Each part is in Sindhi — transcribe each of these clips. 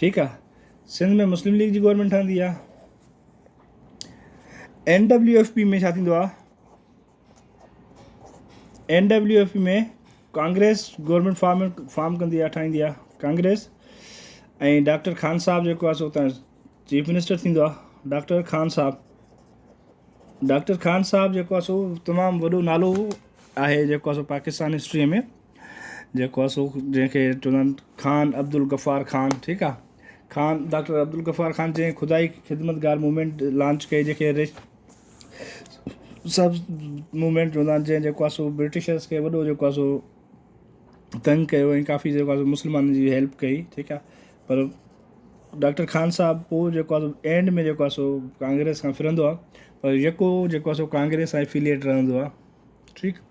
ٺيڪ آ سنڌ ۾ مسلم ليگ جي گورنمينٽ ٺهندي آ اين ڊبليو ايف پي ۾ ڇا ٿيندو آ N W F P ۾ Congress government form form ڪندي آ ٺاهيندي آ ڪانگريس ۽ ڊاڪٽر خان صاحب جيڪو آ سو اتان چيف منسٽر ٿيندو آ ڊاڪٽر خان صاحب ڊاڪٽر خان صاحب جيڪو آ سو تمام وڏو نالو آهي جيڪو آ سو پاڪستان هسٽريء ۾ جيڪو آ سو جنهن کي چوندا آهن خان عبدالغفار خان ٺيڪ آ خان ڊاڪٽر عبدالغفار خان جنهن خدائي خدمتگار موومينٽ لانچ ڪئي جنهن کي ريش سبز موومينٽ چوندا آهن جنهن جيڪو آ سو برٽشرس کي وڏو جيڪو آ سو تنگ ڪيو ۽ ڪافي جيڪو آ سو مسلمانن جي هيلپ ڪئي ٺيڪ آ پر ڊاڪٽر خان صاحب پوء جيڪو آ سو اينڊ ۾ جيڪو آ سو ڪانگريس کان ڦرندو آ پر يڪو جيڪو آ سو ڪانگريس سان افيليٽ رهندو آ ٺيڪ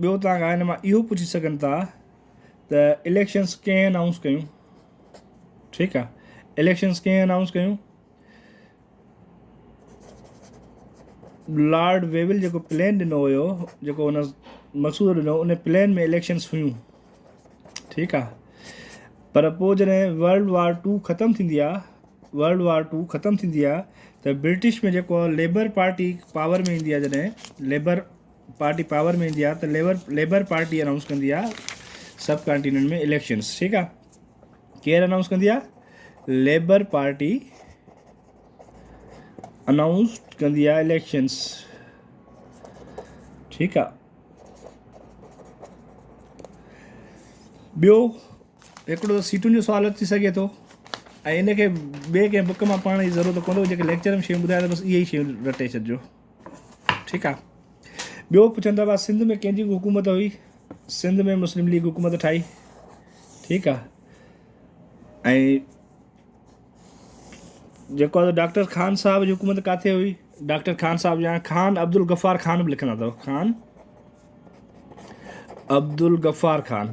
ٻيو تان کان هن مان اهو پڇي سگهن ٿا ته اليڪشنس ڪنهن انائونس ڪيون ٺيڪ آ اليڪشنس ڪنهن انائونس ڪيون لارڊ ويول جيڪو پلان ڏنو هيو جيڪو هن مسودو ڏنو ان پلان ۾ اليڪشنس هيون ٺيڪ آ پر پوء جڏهن ورلڊ وار ٽو ختم ٿيندي آ ورلڊ وار ٽو ختم ٿيندي آ ته برٽش ۾ جيڪو ليبر پارٽي پاور ۾ ايندي آ جڏهن ليبر پارٽي پاور ۾ ايندي آ ته ليبر ليبر پارٽي انائونس ڪندي آ سب ڪانٽيننٽ ۾ اليڪشنز ٺيڪ آ ڪير انائونس ڪندي آ ليبر پارٽي انائونس ڪندي آ اليڪشنز ٺيڪ آ ٻيو هڪڙو ته سيٽن جو سوال اچي سگهي ٿو ۽ ان کي ٻئي ڪنهن بک مان پڙهڻ جي ضرورت ڪونه هو جيڪي ليڪچر ۾ شيون ٻڌايا بس اهي ئي شيون رٽي ڇڏجو ٺيڪ آ ٻيو پڇن ٿا ڀا سنڌ ۾ ڪنهن جي حڪومت هئي سنڌ ۾ مسلم ليگ حڪومت ٺاهي ٺيڪ آ ۽ جيڪو آ ڊاڪٽر خان صاحب جي حڪومت ڪاٿي هئي ڊاڪٽر خان صاحب جا خان عبدالغفار خان به لکندا اٿو خان عبدالغفار خان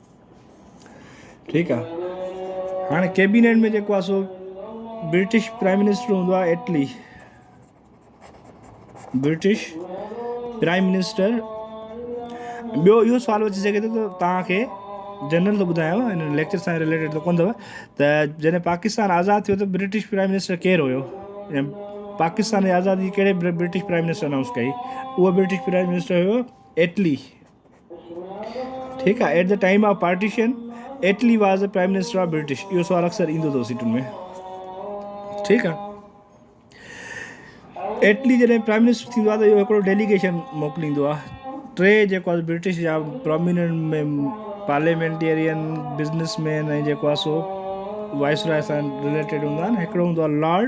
ٺيڪ آ هاڻي ڪيبينيٽ ۾ جيڪو آ سو برٽش پرائم منسٽر هوندو آ اٽلي برٽش پرائم منسٽر ٻيو اهو سوال اچي سگهي ٿو ته توهانکي جنرل ٿو ٻڌايو هن ليڪچر سان ريليٽيڊ ته ڪون اٿو ته جڏهن پاڪستان آزاد ٿيو ته برٽش پرائم منسٽر ڪير هيو ۽ پاڪستان جي آزادي ڪهڙي برٽش پرائم منسٽر اناؤنس ڪئي اهو برٽش پرائم منسٽر هيو ايٽلي ٺيڪ آهي at the time of partition Attlee was a prime minister of British اهو سوال اڪثر ايندو اٿو سيٽن ۾ ٺيڪ آهي ايٽلي جڏهن پرائم منسٽر ٿيندو آهي ته اهو هڪڙو ڊيليگيشن موڪليندو آهي ٽي جيڪو آهي برٽش جا پروميننٽ ميم پارليمينٽيرين بزنس مين ۽ جيڪو آهي سو وائس راء سان رليٽيڊ هوندا آهن هڪڙو هوندو آهي لارڊ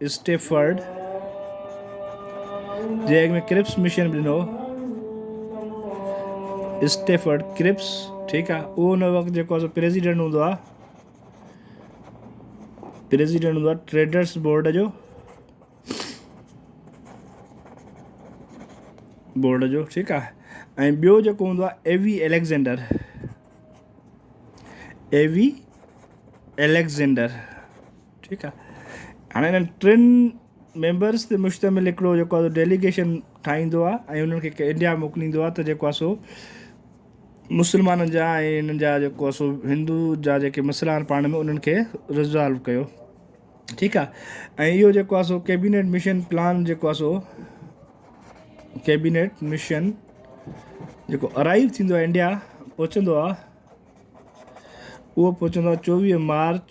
اسٽيفرڊ جي اڳ ۾ ڪرپس مشن به ڏنو اسٽيفرڊ ڪرپس ٺيڪ آ اهو ان وقت جيڪو اسان پريزيڊنٽ هوندو آ پريزيڊنٽ هوندو آ ٽريڊرس بورڊ جو بورڊ جو ٺيڪ آ ۽ ٻيو جيڪو هوندو آ ايوي اليگزينڊر ايوي اليگزينڊر ٺيڪ آ هاڻي انهن ٽن ميمبرس تي مشتمل هڪڙو جيڪو آ ڊيليگيشن ٺاهيندو آ ۽ انهن کي انڊيا موڪليندو آ ته جيڪو آ سو مسلمانن جا ۽ انهن جا جيڪو آ سو هندو جا جيڪي مسئلا آهن پاڻ ۾ انهن کي ريزالو ڪيو ٺيڪ آ ۽ اهو جيڪو آ سو ڪيبينيٽ مشن پلان جيڪو آ سو ڪيبينيٽ مشن جيڪو ارائيو ٿيندو آهي انڊيا پهچندو آهي اهو پهچندو آهي چوويهه مارچ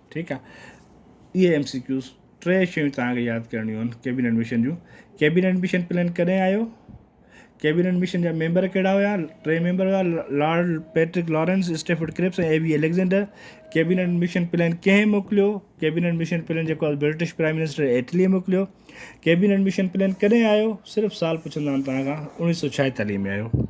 ٺيڪ آ اهي ايم سي ڪيوز ٽي شيون توهان کي ياد ڪرڻيون آهن ڪيبينيٽ مشن جون ڪيبينيٽ مشن پلان ڪڏهن آيو ڪيبينيٽ مشن جا ميمبر ڪهڙا هيا ٽي ميمبر هيا Lord Pethick Lawrence Stafford Cripps ۽ A V Alexander cabinet mission plan ڪنهن موڪليو ڪيبينيٽ مشن پلان جيڪو آهي برٽش پرائم منسٽر ايٽلي موڪليو ڪيبينيٽ مشن پلان ڪڏهن آيو صرف سال پڇندا آهن توهان کان اڻيهه سو ڇاهيتاليهه ۾ آيو